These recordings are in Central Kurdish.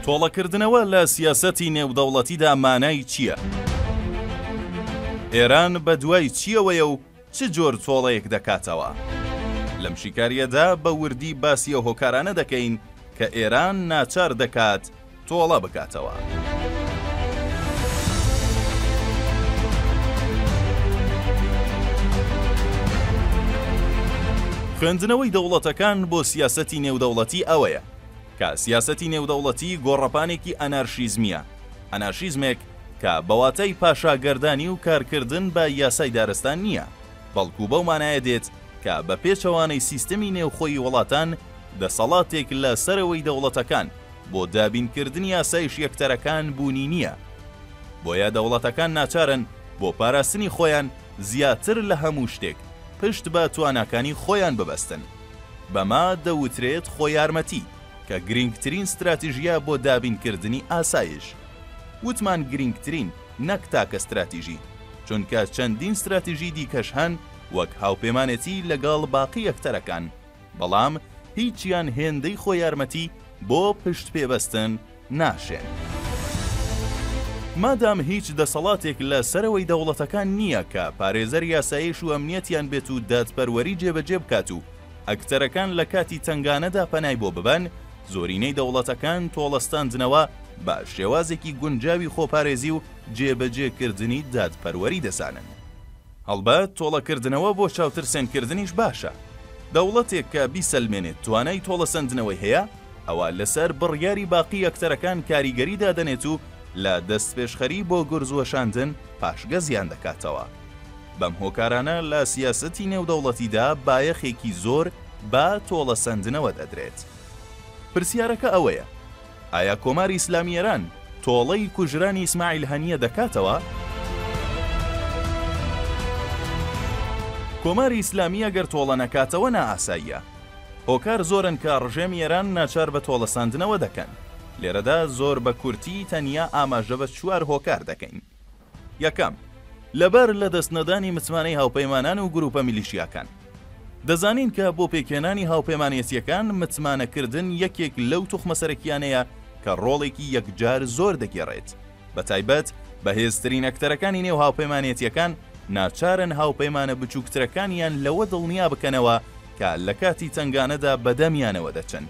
تۆڵەکردنەوە لە سیاسەتی نێودەوڵەتیدا مانای چییە؟ ئێران بە دوای چییەوەیە و چ جۆر تۆڵەیەک دەکاتەوە؟ لەم شیکارییەدا بە وردی باسی ئەو هۆکارانە دەکەین کە ئێران ناچار دەکات تۆڵە بکاتەوە. خوێندنەوەی دەوڵەتەکان بۆ سیاسەتی نێودەوڵەتی ئەوەیە کە سیاسەتی نێودەوڵەتی گۆڕەپانێکی ئەنارشیزمییە، ئەنارشیزمێک کە بە واتای پاشاگەردانی و کارکردن بە یاسای دارستان نییە، بەڵکو بەو مانایە دێت کە بە پێچەوانەی سیستمی نێوخۆی وڵاتان، دەسەڵاتێک لە سەرەوەی دەوڵەتەکان بۆ دابینکردنی ئاسایش یەکتەرەکان بوونی نییە. بۆیە دەوڵەتەکان ناچارن بۆ پاراستنی خۆیان زیاتر لە هەموو شتێک پشت بە تواناکانی خۆیان ببەستن. بەمە دەوترێت خۆیارمەتی، کە گرینگترین ستراتیژیە بۆ دابینکردنی ئاسایش. وتمان گرینگترین نەک تاکە ستراتیژی، چونکە چەندین ستراتیژی دیکەش هەن وەک هاوپێمانێتی لەگەڵ باقی ئەکتەرەکان، بەڵام هیچیان هێندەی خۆیارمەتی بۆ پشتپێبەستن، ناشێن. مادام هیچ دەسەڵاتێک لە سەرەوەی دەوڵەتەکان نییە کە پارێزەر یاسایش و ئەمنیەتیان بێت و دادپەروەری جێبەجێ بکات و ئەکتەرەکان لە کاتی تەنگانەدا پەنای بۆ ببەن، زۆرینەی دەوڵەتەکان تۆڵەستاندنەوە بە شێوازێکی گونجاوی خۆپارێزی و جێبەجێکردنی دادپەروەری دەزانن. هەڵبەت تۆڵەکردنەوە بۆ چاوترسێنکردنیش باشە. دەوڵەتێک کە بیسەلمێنێت توانای تۆڵەسەندنەوەی هەیە، ئەوا لەسەر بڕیاری باقی ئەکتەرەکان کاریگەری دادەنێت و لە دەستپێشخەری بۆ گورز وەشاندن پاشگەزیان دەکاتەوە. بەم هۆکارانە لە سیاسەتی نێودەوڵەتیدا بایەخێکی زۆر بە تۆڵەسەندنەوە دەدرێت. پرسیارەکە ئەوەیە. ئایا کۆماری ئیسلامی ئێران تۆڵەی کوژرانی ئیسماعیل هەنییە دەکاتەوە؟ کۆماری ئیسلامی ئەگەر تۆڵە نەکاتەوە نائاساییە. هۆکار زۆرن کە ڕژێمی ئێران ناچار بە تۆڵەسەندنەوە دەکەن. لێرەدا زۆر بە کورتی تەنیا ئاماژە بە چوار هۆکار دەکەین. یەکەم، لەبەر لەدەست نەدانی متمانەی هاوپەیمانان و گروپە میلیشیاکان. دەزانین کە بۆ پێکهێنانی هاوپەیمانێتیەکان متمانە کردن یەکێک لەو توخمە سەرەکیانەیە کە ڕۆڵێکی یەکجار زۆر دەگێڕێت، بە تایبەت بەهێزترین ئەکتەرەکانی نێو هاوپەیمانێتیەکان ناچارن هاوپەیمانە بچوکترەکانیان لەوە دڵنیا بکەنەوە کە لەکاتی تەنگانەدا بەدەمیانەوە دەچن.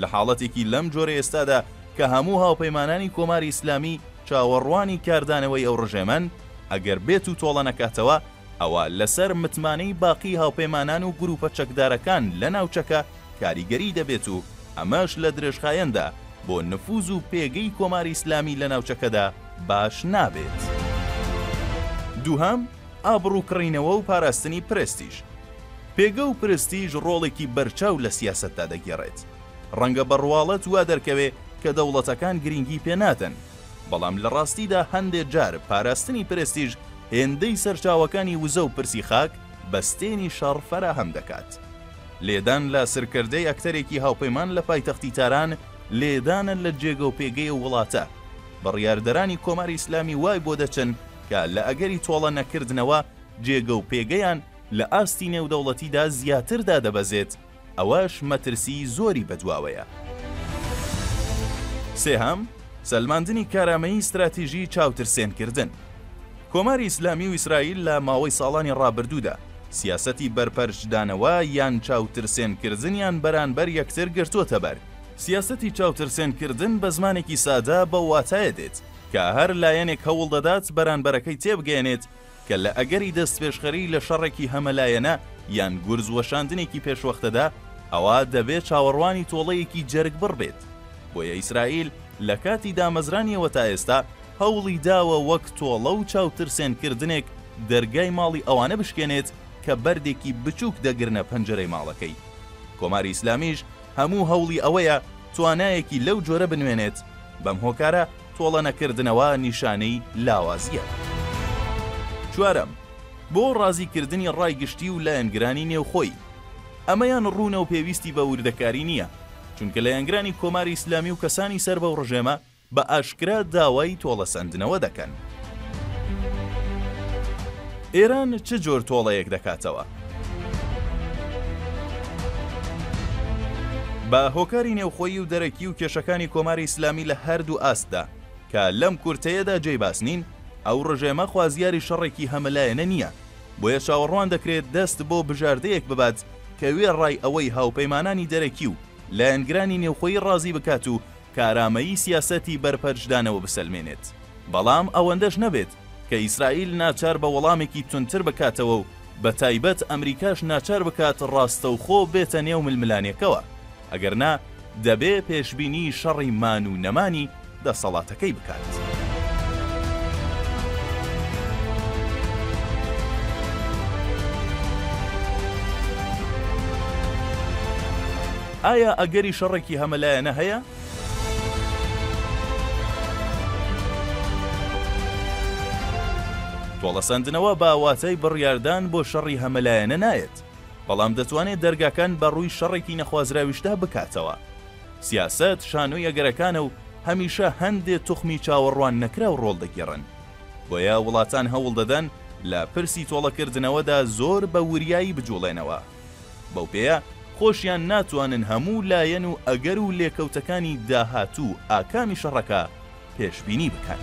لە حاڵەتێکی لەم جۆرە ئێستادا کە هەموو هاوپەیمانانی کۆماری ئیسلامی چاوەڕوانی کاردانەوەی ئەو ڕژێمەن، ئەگەر بێت و تۆڵە نەکاتەوە، ئەوا لەسەر متمانەی باقی هاوپەیمانان و گرووپە چەکدارەکان لە ناوچەکە کاریگەری دەبێت و ئەمەش لە درێژخایەندا بۆ نفووز و پێگەی کۆماری ئیسلامی لە ناوچەکەدا باش نابێت. دووهەم، ئابڕوو کڕینەوە و پاراستنی پرێستیژ. پێگە و پرستیژ ڕۆڵێکی بەرچاو لە سیاسەتدا دەگێڕێت. ڕەنگە بە ڕواڵەت وا دەرکەوێ کە دەوڵەتەکان گرینگی پێ نادەن، بەڵام لە ڕاستیدا هەندێ جار پاراستنی پرێستیژ هێندەی سەرچاوەکانی وزە و پرسی خاک بەستێنی شەڕ فەراهەم دەکات. لێدان لە سرکردەی ئەکتەرێکی هاوپەیمان لە پایتەختی تاران لێدانە لە جێگە و پێگەی ئەو وڵاتە. بڕیاردەرانی کۆماری ئیسلامی وای بۆ دەچن کە لە ئەگەری تۆڵە نەکردنەوە جێگە و پێگەیان لە ئاستی نێودەوڵەتیدا زیاتر دادەبەزێت، ئەوەش مەترسی زۆری بەدواوەیە. سێهەم، سەلماندنی کارامەیی ستراتیژی چاوترسێنکردن. کۆماری ئیسلامی و ئیسرائیل لە ماوەی ساڵانی ڕابردوودا سیاسەتی بەرپەرچدانەوە یان چاوترسێنکردنیان بەرانبەر یەکتر گرتۆتەبەر. سیاسەتی چاوترسێنکردن بە زمانێکی سادە بەو واتایە دێت، کە هەر لایەنێک هەوڵ دەدات بەرانبەرەکەی تێبگەیەنێت کە لە ئەگەری دەستپێشخەری لە شەڕێکی هەمەلایەنە یان گورز وەشاندنێکی پێشوەختەدا ئەوا دەبێت چاوەڕوانی تۆڵەیەکی جەرگبڕ بێت بۆیە ئیسرائیل لە کاتی دامەزرانیەوە تا ئێستا هەوڵی داوە وەک تۆڵە و چاوترسێنکردنێک دەرگای ماڵی ئەوانە بشکێنێت کە بەردێکی بچووک دەگرنە پەنجەرەی ماڵەکەی کۆماری ئیسلامیش هەموو هەوڵی ئەوەیە توانایەکی لەو جۆرە بنوێنێت، بەم هۆکارە تۆڵەنەکردنەوە نیشانەی لاوازییە. چوارەم، بۆ ڕازیکردنی ڕای گشتی و لایەنگرانی نێوخۆی. ئەمەیان ڕوونە و پێویستی بە وردەکاری نییە، چونکە لایەنگرانی کۆماری ئیسلامی و کەسانی سەر بەو ڕژێمە بە ئاشکرا داوای تۆڵەسەندنەوە دەکەن. ئێران چ جۆر تۆڵەیەک دەکاتەوە؟ بە هۆکاری نێوخۆیی و دەرەکی و کێشەکانی کۆماری ئیسلامی لە هەردوو ئاستدا، کە لەم کورتەیەدا جێی باس نین، ئەو ڕژێمە خوازیاری شەڕێکی هەمەلایەنە نییە، بۆیە چاوەڕوان دەکرێت دەست بۆ بژاردەیەک ببات کە وێڕای ئەوەی هاوپەیمانانی دەرەکی و لایەنگرانی نێوخۆیی ڕازی بکات و کارامەیی سیاسەتی بەرپەرچدانەوە بسەلمێنێت، بەڵام ئەوەندەش نەبێت کە ئیسرائیل ناچار بە وەڵامێکی توندتر بکاتەوە و بەتایبەت ئەمریکاش ناچار بکات ڕاستەوخۆ بێتە نێو ململانێکەوە، ئەگەرنا دەبێ پێشبینی شەڕی مان و نەمانی دەسەڵاتەکەی بکات. ئایا ئەگەری شەڕێکی هەمەلایەنە هەیە؟ تۆڵەسەندنەوە بە واتای بڕیاردان بۆ شەڕی هەمەلایەنە نایەت، بەڵام دەتوانێت دەرگاکان بە ڕووی شەڕێکی نەخوازراویشدا بکاتەوە. سیاسەت شانۆی ئەگەرەکانە و هەمیشە هەندێ توخمی چاوەڕوان نەکراو ڕۆڵ دەگێڕن. بۆیە وڵاتان هەوڵ دەدەن لە پرسی تۆڵەکردنەوەدا زۆر بە وریایی بجوڵێنەوە. بەو پێیە خۆشیان ناتوانن هەموو لایەن و ئەگەر و لێکەوتەکانی داهاتوو ئاکامی شەڕەکە پێشبینی بکەن.